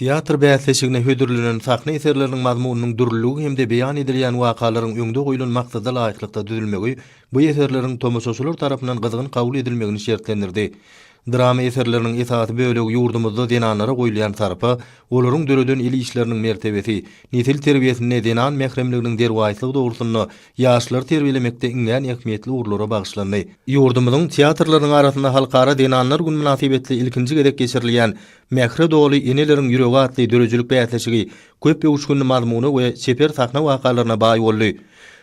Teatr bäsleşigine hödürlenen sahna eserleriniň mazmunynyň dürlüligi hem-de beýan edilýän wakalaryň öňde goýlan maksada laýyklykda düzülmegi bu eserleriň tomaşaçylar tarapyndan gyzgyn kabul edilmegini şertlendirdi. Drama eserleriniň esasy bölegi ýurdumyzda zenanlara goýulýan sarpa, olaryň döreden el işleriniň mertebesi, nesil terbiýesinde zenan mähremliginiň derwaýyslygy dogrusynda ýaşlary terbiýelemekde iňňän ähmiýetli ugurlara bagyşlandy. Ýurdumyzyň teatrlarynyň arasynda Halkara zenanlar güni mynasybetli ilkinji gezek geçirilýän Mähre doly eneleriň ýüregi atly döredijilik bäsleşigi köp öwüşginli mazmuna we çeper sahna wakalaryna baý boldy.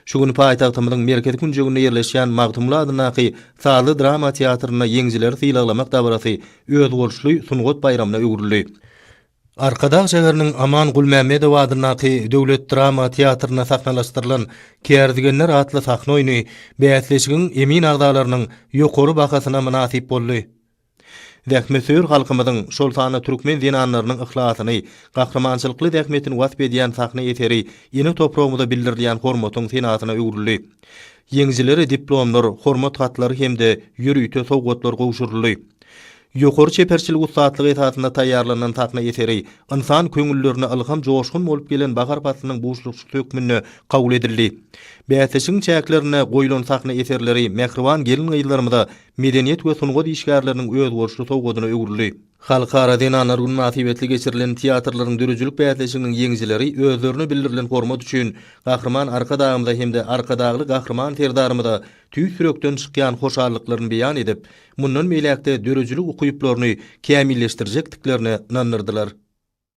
Şu gün paýtagtymyzyň merkezi künjeginde ýerleşýän Magtymguly adyndaky sazly drama teatrynda ýeňijileri sylaglamak dabarasy özboluşly sungat baýramyna öwrüldi. Arkadag şäheriniň Aman Gulmämmedow adyndaky döwlet drama teatrynda sahnalaşdyrylan Kärdegenler atly sahna oýny bäsleşigiň emin agzalarynyň ýokary bahasyna mynasyp boldy. Zähmetsöýer halkymyzyň, şol sanda türkmen zenanlarynyň yhlasyny, gahrymançylykly zähmetini wasp edýän sahna eseri ene topragymyza bildirilýän hormatyň senasyna öwrüldi. Ýeňijilere diplomlar, hormat hatlary hem-de ýörite sowgatlar gowşuryldy. Ýokary çeperçilik ussatlygy esasynda taýýarlanan sahna eseri ynsan köňüllerine ylham joşgun bolup gelen bahar paslynyň buşlukçysy hökmünde kabul edildi. Bäsleşigiň çäklerinde goýlan sahna eserleri mähriban gelin-gyzlarymyza medeniýet we sungat işgärleriniň özboluşly sowgadyna öwrüldi. Halkara zenanlar güni mynasybetli geçirilen teatrlaryň döredijilik bäsleşiginiň ýeňijileri özlerine bildirilen hormat üçin Gahryman Arkadagymyza hem-de Arkadagly Gahryman Serdarymyza tüýs ýürekden çykýan hoşallyklaryny beýan edip, mundan beýläk-de döredijilik ukyplaryny kämilleşdirjekdiklerine ynandyrdylar.